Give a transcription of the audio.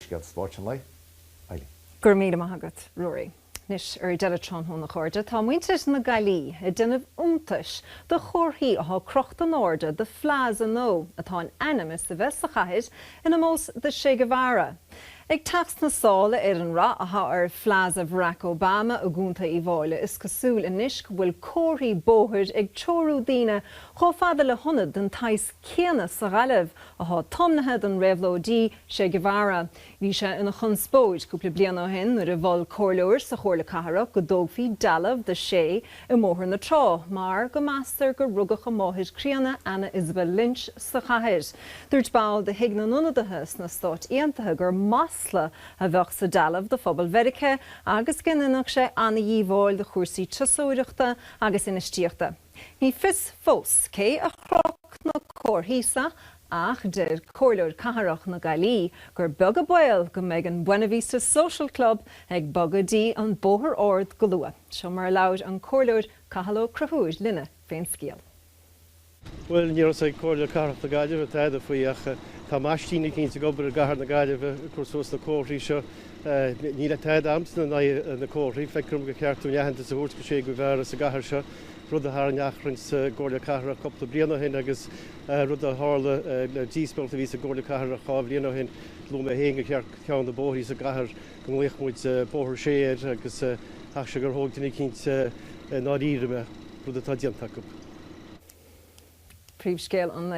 Scéalta Spóirt an Lae, Eileen. Go raibh míle maith agat, Ruairí. Anois, ar deireadh tráthnóna, a chairde, tá muintir na Gaillí ag déanamh iontais de chomharthaí atá crochta in airde do phlaza nua atá in ainm is a bheith sa chathair in omós do Che Guevara. Ag teacht sna sála ar an rath atá ar Phlaza Bharack Obama i gContae Uíbh Fhailí, is cosúil anois go bhfuil comharthaí bóthair ag treorú daoine chomh fada le hionad den tsaghas céanna sa Ghaillimh, atá tiomnaithe don réabhlóidí Che Guevara. Bhí sé ina chonspóid cúpla bliain ó shin nuair a mhol comhairleoir sa Chomhairle Cathrach go dtógfaí dealbh do Che i mBóthar na Trá mar go meastar gur rugadh a mháthair críonna Anna Isabel Lynch sa chathair. Dúirt ball de Thigh na nIonadaithe sna Stáit Aontaithe gur masla a bheadh sa dealbh do phobal Mheiriceá agus go ndéanfadh sé an-dhíobháil do chúrsaí turasóireachta agus infheistíochta. Ní fios fós cé a chroch na comharthaí seo ach deir Comhairleoir Cathrach na Gaillí gur beag an baol go mbeidh an Buena Vista Social Club ag bogadh go dtí an Bóthar Ard go luath. Seo mar a labhair an Comhairleoir Cathal Ó Conchúir linne fén scial. Bhuel, níor thosaigh Comhairle Cathrach na Gaillimhe tada faoi ach tá maistín eicínt ag obair i gCathair na Gaillimhe ag cur suas na comharthaí seo. Níl tada a'msa in aghaidh na comharthaí, feictear dom gur cheart dúinn aitheantas a thabhairt do Che Guevara sa gcathair seo. rud a tharraing achrann sa gComhairle Cathrach cúpla bliain ó shin agus rud a tharla díospóireacht a bhí sa gComhairle Cathrach dhá bhliain ó shin. Luaigh mé féin gur cheart ceann de bhóithrí sa gcathair go nglaoch muid Bóthar Che air agus caithfidh sé gur thóg duine eicínt i ndáiríre mé, rud atá déanta acu. Príomhscéal an.